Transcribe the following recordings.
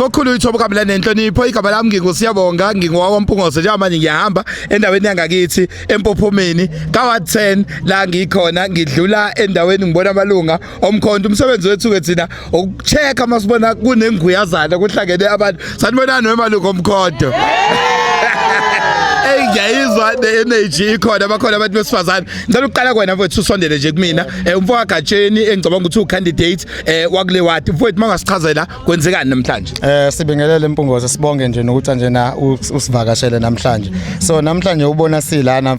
kokhulu ithobo kabila nenhlonipho igaba lami ngingusiyabonga ngingowa Mpungose njengamanje ngiyahamba endaweni yangakithi empophomeni ka 10 la ngikhona ngidlula endaweni ngibona amalunga omkhonto umsebenzi wethu ke thina ukuchecka masibona kunenguyazana kuhlangene abantu sanibonani wemalunga omkhonto Hey ngiyayizwa the energy ikhona bakhona abantu besifazane ngicela ukuqala kwena mfowethu usondele nje kumina eh, umfowakagatsheni engicabanga ukuthi u candidate eh, wakule ward mfowethu mangasichazela kwenzekani namhlanje eh sibingelele impungoze sibonge nje nokuthi nje na usivakashele namhlanje so namhlanje ubona silana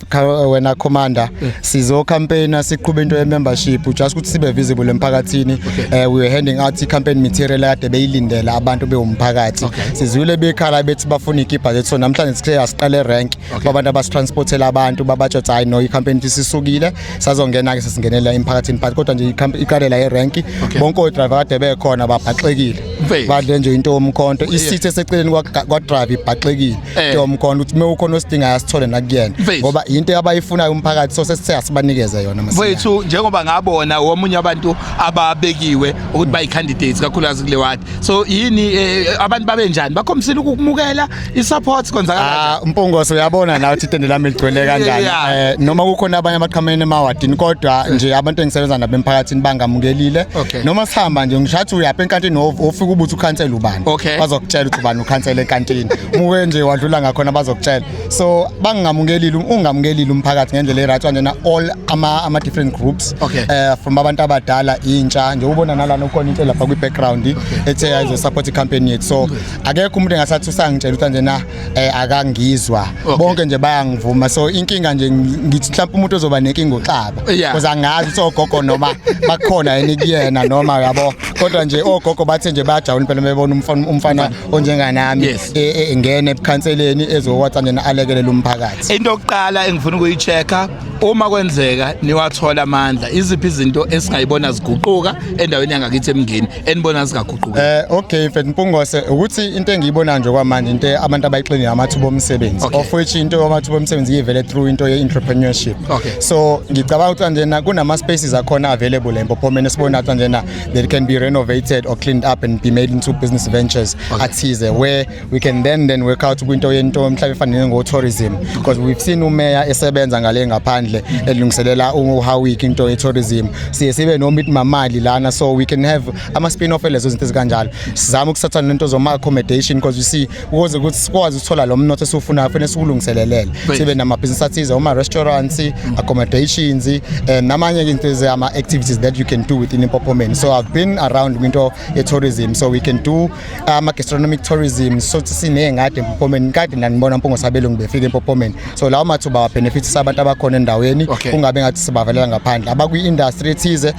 wena commander sizo campaigner siqhube into ye membership just ukuthi sibe visible emphakathini eh we were handing out campaign material ade beyilindela abantu bewumphakathi sizwile bekhala bethi bafuna ikipa lethu so namhlanje sikhe asiqale rank kwabantu abasitransportela abantu babatsho hayi no i campaign isisukile sazongena ke sesingenela emphakathini but kodwa nje iqalela yerank okay. bonke odriver kade bekhona babhaxekile badle nje into yomkhonto isithi eseceleni kwadrive ibhaxekile eh. into yomkhonto ukuthi mewukhona osidingayo asithole nakuyena ngoba into abayifunayo umphakathi so sesithe asibanikeze yona mfethu njengoba ngabona womunye abantu ababekiwe ukuthi bayi candidates kakhulukazi kule ward so yini eh, abantu babe njani bakhombisile ukumukela i-support kwenzakala Ah Mpungose uyabona nawe ukuthi itende lami ligcwele kanjani Yeah. eh noma kukhona abanye abaqhamene emawadini kodwa nje abantu engisebenza nabo emphakathini bangamukelile Okay. noma sihamba nje ngishathi uyapha enkantini of- ofika ubuthi ukhansela ubani Okay. bazokutshela ukuthi ubani ukhansela enkantini muke nje wadlula ngakhona bazokutshela so bangingamukelile ungamukelile umphakathi ngendlela e-right kanjena all ama, ama different groups okay. uh, from abantu abadala intsha nje ubona nalana ukhona into lapha kwi-background okay. ethe ayizo support i-campaign yethu so akekho umuntu engasathi usangitshela ukuthi kanjena um eh, akangizwa okay. bonke nje bayangivuma so inkinga nje ngithi mhlawumpe umuntu ozoba nenkinga uxaba yeah. cause angazi ukuthi ogogo noma bakhona yini kuyena noma yabo kodwa nje ogogo bathe nje bayajabula impela bebona umfana onjenganami Yes. e- e- engene ebukhanseleni ezokwathi nje alekelele umphakathi into yokuqala engifuna ukuyi-check-a uma kwenzeka niwathola amandla iziphi izinto esingayibona ziguquka endaweni yangakithi emngeni enibona zingaguquki Eh okay mfethu Mpungose ukuthi into engiyibona nje kwamanje into abantu abayixinile amathuba omsebenzi Okay. of which into yamathuba omsebenzi ivele through into ye entrepreneurship Okay. so ngicabanga ukuthi njena kunama spaces akhona available empophomeni sibona ukuthi njena that can be renovated or cleaned up and be made into business ventures okay. athize where we can then then work out kwinto yento mhlawumbe efanele ngo-tourism because we've seen umeya esebenza ngale ngaphandle elungiselela uhawik into ye-tourism siye sibe noma ithi mamali lana so we can have ama-spin off elezo zinto ezikanjalo sizama ukusatha nento zoma-accommodation because you see ukuze ukuthi sikwazi ukuthola lo mnotho esiwufunayo kufanele siwulungiselelele sibe namabhizinisi athize oma-restaurants mm. accommodations um namanye into ezama-activities that you can do within impophomeni so i've been around kwinto ye-tourism so we can do ama-gastronomic tourism sothi siney'ngadi empophomeni kade ndanibona mpungo sabelungu befika empophomeni so lawo mathuba wabenefitisa abantu abakhona endaweni okay. kungabe ngathi sibavelela ngaphandle abakwi-industry ethize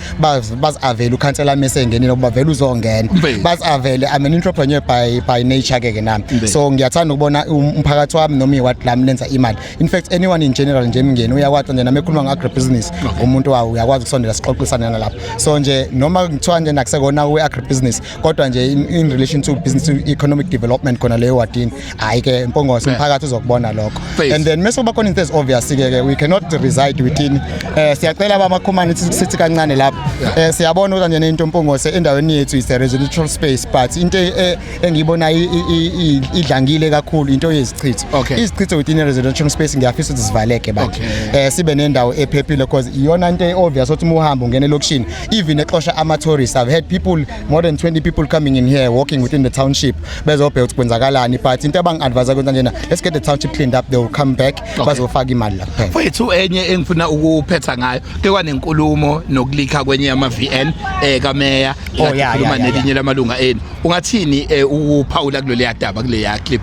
bazi-avele ukhansela mese engenile ukuba vele uzongena bazi-avele i'm an entrepreneur by, by nature ke ke nami so ngiyathanda ukubona um, umphakathi wami noma iwadi lami lenza imali in fact anyone in general nje emngeni uyakwati nje nami ekhuluma nge-agribusiness okay. umuntu wawo uyakwazi ukusondela sixoxisane nalapho so nje noma kuthiwa nje nakusekona kwe-agribusiness kodwa nje in, in relation to business to economic development khona leyo wadini hayi ke mpongose umphakathi uzokubona lokho and then mese kuba khona into ezi obvious ke ke we cannot reside within eh siyacela abamakhumane sithi kancane lapho eh siyabona ukuthi nje into mpongose endaweni yethu is a residential space but into e, engiyibona idlangile kakhulu into yezichitho izichitho within a residential space ngiyafisa ukuthi zivaleke bathi eh sibe nendawo ephephile because iyona into eobvious ukuthi uma uhamba ungena elokishini even exosha ama tourists i've had people more than 20 people coming in here walking within the township bezobheka ukuthi kwenzakalani but into abangi-advise kwenza njena let's get the township cleaned up they will come back okay. bazofaka imali la kuphela mfowethu enye engifuna ukuphetha ngayo ke kwanenkulumo nokulikha kwenye yama-vn eh kameya oh, yeah, yeah, yeah, nelinye yeah. lamalunga enu ungathini eh, ukuphawula kuloleya daba kuleya clip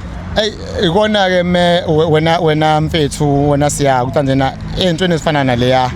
ikona ke me wena wena mfethu wena siya ukuthi njena entweni ezifana naleya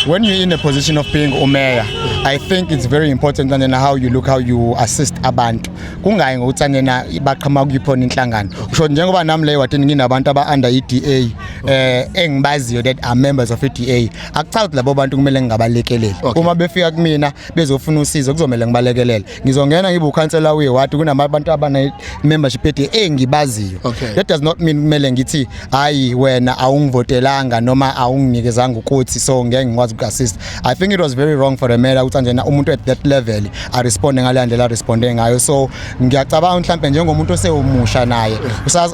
when you're in a position of being umeya i think it's very important njena how you look how you assist abantu kungayi ngokuthi njena baqhama kuyiphona inhlangano usho njengoba nami leyo wathi nginabantu aba under iDA eh engibaziyo that are members of iDA akuchazi labo bantu kumele ngingabalekeleli uma befika kumina bezofuna usizo kuzomela ngibalekelele ngizongena ngibe ukhansela wewadi kunamabantu abane-membership ede engibaziyo okay. that does not mean kumele ngithi hhayi wena awungivotelanga noma awunginikezanga ukuthi so ngeke ngikwazi uku-assist i think it was very wrong for the mayor ukuthi anjena umuntu at that level aresponde ngaleya ndlela aresponde ngayo so ngiyacabanga mhlawumpe njengomuntu osewumusha naye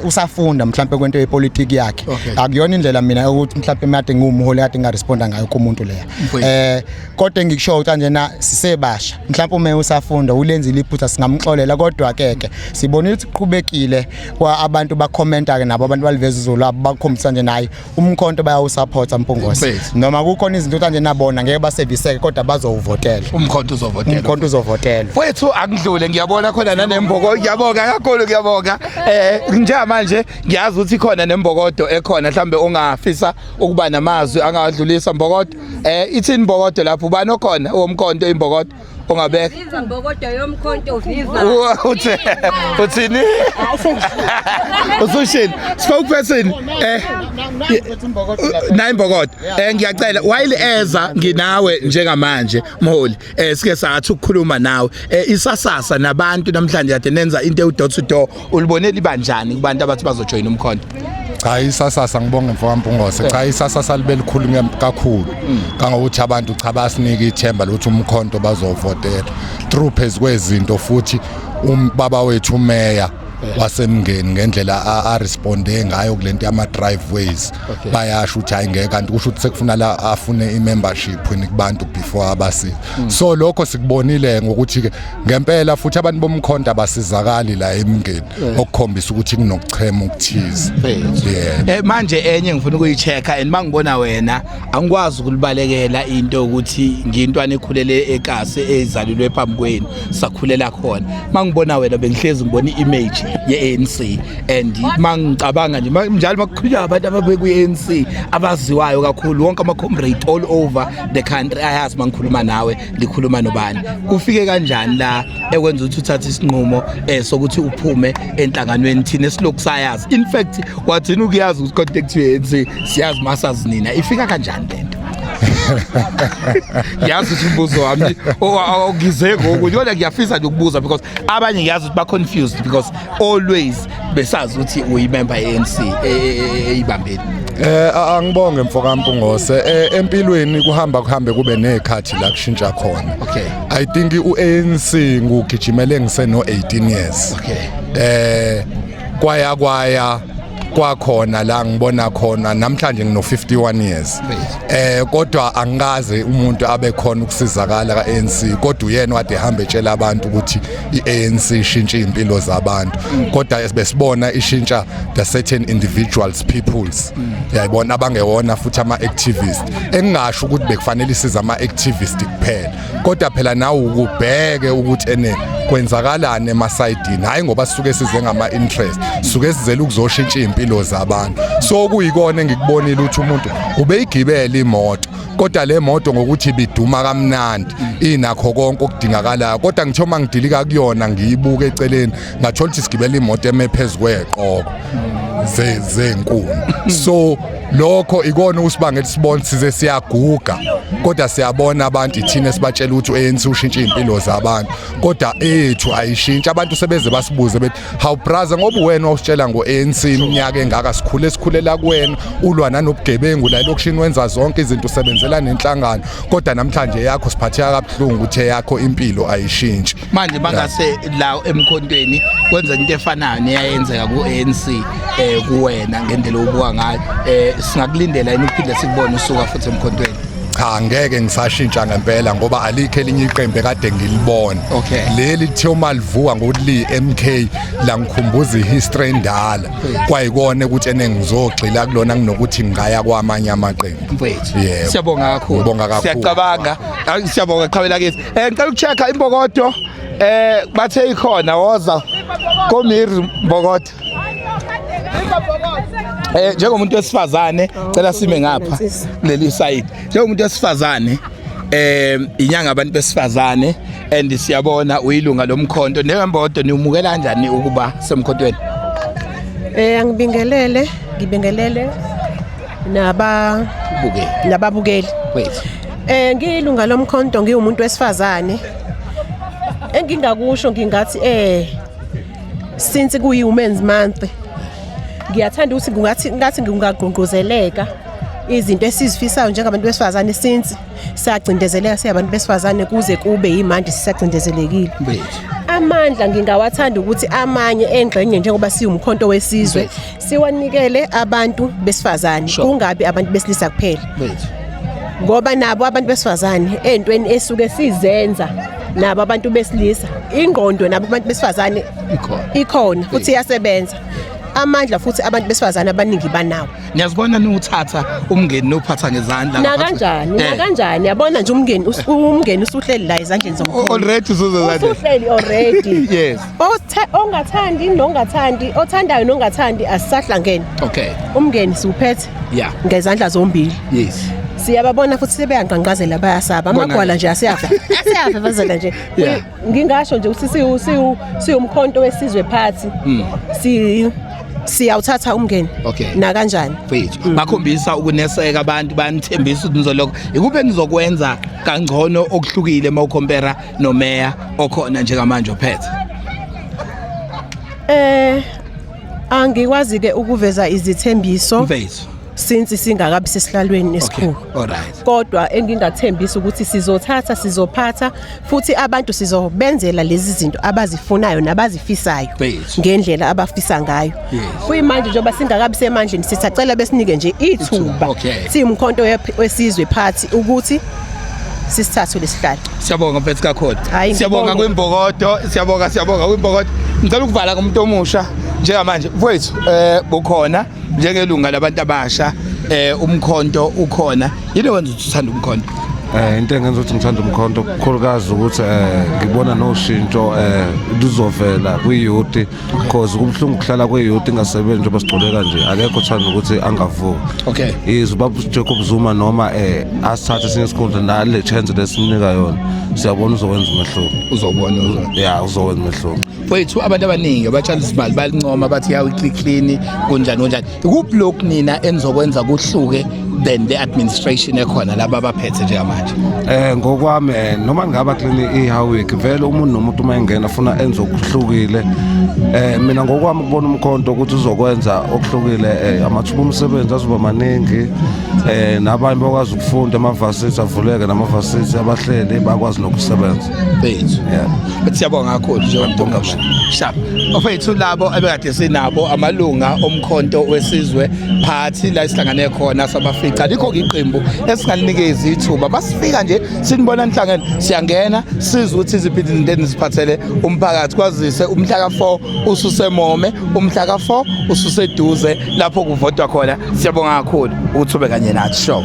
usafunda mhlawumpe kwento yepolitiki yakhe okay. akuyona indlela mina ukuthi mhlawumpe made ngiwumholi kade ngingaresponda ngayo kumuntu leya um eh, kodwa engikushoyo ukuthi kanjena sisebasha mhlawumbe uma usafunda ulenzile iphutha singamxolela kodwa ke ke sibona ukuthi kuqhubekile kwa abantu bakhomenta ke nabo abantu baliveza izulu abo bakhombisa nje naye umkhonto bayawusupporta mpungose noma kukhona izinto kanje nabona ngeke baseviseke kodwa bazowuvotela umkhonto uzovotela umkhonto uzovotela wethu akudlule ngiyabona khona nanemboko ngiyabonga kakhulu ngiyabonga eh njamanje ngiyazi ukuthi khona nembokodo ekhona mhlambe ongafisa ukuba namazwi angawadlulisa mbokodo Eh ithini imbokodo lapho ubani okhona owomkhonto imbokodo ongabeka. Viva mbokodo yomkhonto viva. Uthe uthini? Usushini spokesperson eh nayi imbokodo. Eh ngiyacela while eza nginawe njengamanje mholi. eh sike sathi ukukhuluma nawe eh isasasa nabantu namhlanje kade nenza into ewu door to door ulibone libanjani kubantu abathi bazojoin umkhonto cha isasasa ngibonge mfokampungose cha isasasa libe likhulu kakhulu mm. kangokuthi abantu cha basinike ithemba lokuthi umkhonto bazovotela through phezu kwezinto futhi umbaba wethu umeya wasemngeni ngendlela a responde ngayo kulento yama driveways okay. bayasho ukuthi hayi ngeke kanti kusho ukuthi sekufuna la afune i membership kubantu before abasi mm. so lokho sikubonile ngokuthi ke ngempela futhi abantu bomkhonto abasizakali la emngeni yeah. okukhombisa ukuthi kunokuchema ukuthize yeah. eh manje enye ngifuna ukuyi checker and mangibona wena angikwazi ukulibalekela into ukuthi ngiyintwana ekhulele ekase ezalilwe phambi kwenu sakhulela khona mangibona wena bengihlezi ngibona i-image ye-ANC and mangicabanga nje njalo makukhulunywa abantu ababeku-ANC abaziwayo kakhulu wonke ama-comrade all over the country ayazi mangikhuluma nawe ngikhuluma nobani kufike kanjani la ekwenza ukuthi uthathe isinqumo eh sokuthi uphume enhlanganweni thina esilokhu sayazi in fact wathini ukuyazi ukuthi contact yenzi siyazi masazi nina ifika kanjani lento yazi ukuthi umbuzo wami awugize ngoku yona ngiyafisa nje ukubuza because abanye ngiyazi ukuthi ba confused because always besazi ukuthi uyimember ye-ANC e- e- e- eyibambile Eh a- angibonge mfokampungose eh, empilweni kuhamba kuhambe kube nezikhathi la kushintsha khona Okay. i think uANC ngugijimele ngiseno 18 years Okay. eh kwaya kwaya kwakhona la ngibona khona namhlanje ngino 51 years Right. eh kodwa angikaze umuntu abe khona ukusizakala kaANC kodwa uyena wade hambe etshela abantu ukuthi i-ANC ishintshe impilo zabantu kodwa besibona ishintsha the certain individuals peoples yayibona abangewona futhi ama activist engingasho ukuthi bekufanele isiza ama activist kuphela kodwa phela nawe ukubheke ukuthi ene kwenzakalani emasayidini hayi ngoba sisuke size ngama interest suke sizela ukuzoshintsha impilo zabantu so kuyikona engikubonile ukuthi umuntu ubeyigibela imoto kodwa le moto ngokuthi biduma kamnandi inakho konke okudingakalayo kodwa ngithe uma ngidilika kuyona ngiyibuka eceleni ngathola ukuthi sigibela imoto eme phezu kweqoko zenkuni so lokho ikona usibanga elisibona size siyaguga kodwa siyabona abantu ithina sibatshela ukuthi ANC ushintsha impilo zabantu kodwa ethu ayishintsha abantu sebeze basibuze bethi hawu braza ngoba wena usitshela ngo-anc iminyaka engaka sikhule sikhulela kuwena ulwa nanobugebengu la elokishini wenza zonke izinto usebenzela nenhlangano kodwa namhlanje yakho siphatheka kabuhlungu uthe yakho impilo ayishintshi manje bangase la emkhontweni kwenza into efanayo neyayenzeka ku-anc um eh, kuwena ngendlela obuka ngayo um singakulindela yini ukuphinde sikubone usuka futhi emkhontweni cha ngeke ngisashintsha ngempela ngoba alikho elinye iqembu ekade ngilibona Okay. leli kuthiwa uma livuka ngokuthi liyi-mk langikhumbuza ihistory endala kwayikona ukuthi ene ngizogxila kulona kunokuthi ngingaya kwamanye amaqembu mfethu Yebo. siyabonga kakhulu Ngibonga kakhulu. siyacabanga Ayi, siyabonga qhawela kithi eh ngicela ukuchecka imbokodo eh bathe ikhona woza komiri mbokodo Eh njengomuntu wesifazane cela sime ngapha leli side njengomuntu wesifazane eh inyanga abantu besifazane and siyabona uyilunga lomkhonto nembodo niwumukela kanjani ukuba semkhontweni eh angibingelele ngibingelele naba bukeli nababukeli wethu eh ngiyilunga lomkhonto ngiwumuntu wesifazane engingakusho ngingathi eh since kuyi women's month ngiyathanda ukuthi kungathi ngathi ngingagqungquzeleka izinto esizifisayo njengabantu besifazane since siyacindezeleka siyabantu besifazane kuze kube yimanje sisacindezelekile amandla ngingawathanda ukuthi amanye engxenye njengoba siwumkhonto wesizwe siwanikele abantu besifazane Sure. kungabi abantu besilisa kuphela Bethu. ngoba nabo abantu besifazane ey'ntweni esuke sizenza nabo abantu besilisa ingqondo nabo abantu besifazane Ikhona. ikhona futhi iyasebenza amandla futhi abantu besifazane abaningi banawo Niyazibona niwuthatha umngeni nophatha ngezandla. nakanjani Eh. nakanjani yabona nje umngeni us- umngeni usuhleli la ezandleni zomkhulu Already usuze zandla. usuhleli already Yes. ongathandi nongathandi othandayo nongathandi asisahlangene okay umngeni siwuphethe yeah ngezandla zombili yes siyababona futhi sebeyangqanqazela bayasaba amagwala nje asiyafa asiyafa bazela nje ngingasho nje ukuthi siwu siwumkhonto wesizwe phathi hmm. si siyawuthatha umngeni okay na kanjani mfethu mm. bakhombisa ukuneseka abantu banithembisa ukuthi nizolokho ikuphi enizokwenza kangcono okuhlukile mawukompera nomeya okhona njengamanje ophethe eh angikwazi ke ukuveza izithembiso mfethu since singakabi sesihlalweni esikhulu okay. alright kodwa engingathembisa ukuthi sizothatha sizophatha futhi abantu sizobenzela lezi zinto abazifunayo nabazifisayo ngendlela abafisa ngayo kuyimanje njengoba singakabi semandleni sisacela besinike nje ithuba Okay. siwumkhonto wep- wesizwe phathi ukuthi sisithathe lesihlalo Siyabonga mfethu kakhulu. Hhayi, Siyabonga ngibonge. kwimbokodo, siyabonga siyabonga kwimbokodo. Ngicela ukuvala ngomuntu omusha njengamanje. Mfowethu eh bukhona njengelunga labantu abasha eh umkhonto ukhona. Yini wenza ukuthi uthanda umkhonto? Eh into engenza ukuthi ngithanda umkhonto kukhulukazi ukuthi eh ngibona noshintsho eh luzovela kwi-youth because kubuhlungu ukuhlala kweyouth ingasebenzi njengoba sigcole kanje akekho thanda ukuthi angavuki okay is ubaba Jacob Zuma noma eh asithathe sinye isikhundla nale chance lesimnika yona siyabona uzokwenza umehluko uzobona uzobona yeah uzokwenza umehluko mfowethu abantu abaningi abatshala izimali balincoma bathi yawu clean clean kunjani kunjani kuphi lokhu nina enizokwenza kuhluke than the administration ekhona laba abaphethe njengamanje eh ngokwami eh, noma ngaba clean iHawick vele umuntu nomuntu uma engena funa enze okuhlukile eh mina ngokwami kubona umkhonto ukuthi uzokwenza okuhlukile eh, amathuba omsebenzi azoba maningi eh nabanye bakwazi ukufunda amavasithi avuleke namavasithi abahleli bakwazi nokusebenza bethu but siyabonga kakhulu njengombonga sharp ofethu labo abekade sinabo amalunga omkhonto wesizwe phathi la isihlangane khona sabafica likho iqembu esingalinikeza ithuba basifika nje sinibona inhlangene siyangena sizwe ukuthi iziphi izinto eziphathele umphakathi kwazise umhla ka4 ususemome umhla ka4 ususeduze lapho kuvotwa khona siyabonga kakhulu ukuthi ube kanye nathi show